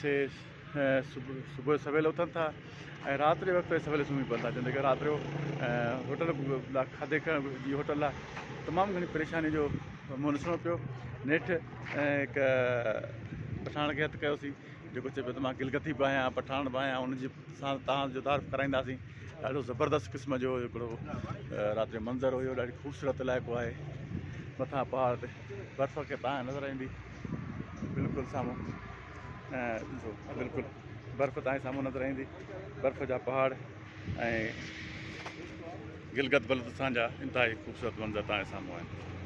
سي صبح سويل اٿن ٿا ۽ رات جي وقت سويل سمهي پون ٿا جڏهن ته رات جو هوٽل لاء کاڌي جي هوٽل لاء تمام گهڻي پريشاني جو منهن ڏسڻو پيو نيٺ هڪ پٺاڻ کي هٿ ڪيوسين جيڪو چئي پيو ته مان گلگتي به آهيان پٺاڻ به آهيان ان جي سان تان جو تعارف ڪرائينداسين ڏاڍو زبردست قسم جو هڪڙو رات جو منظر هيو ڏاڍي خوبصورت علائقو آهي مٿان پهاڙ تي برف کي تان نظر ايندي بلڪل سامهون ڏسو بلڪل برف تائين سامهون نظر ايندي برف جا پهاڙ ۽ گلگت بلتستان جا انتهائي خوبصورت منظر تائين سامهون آهن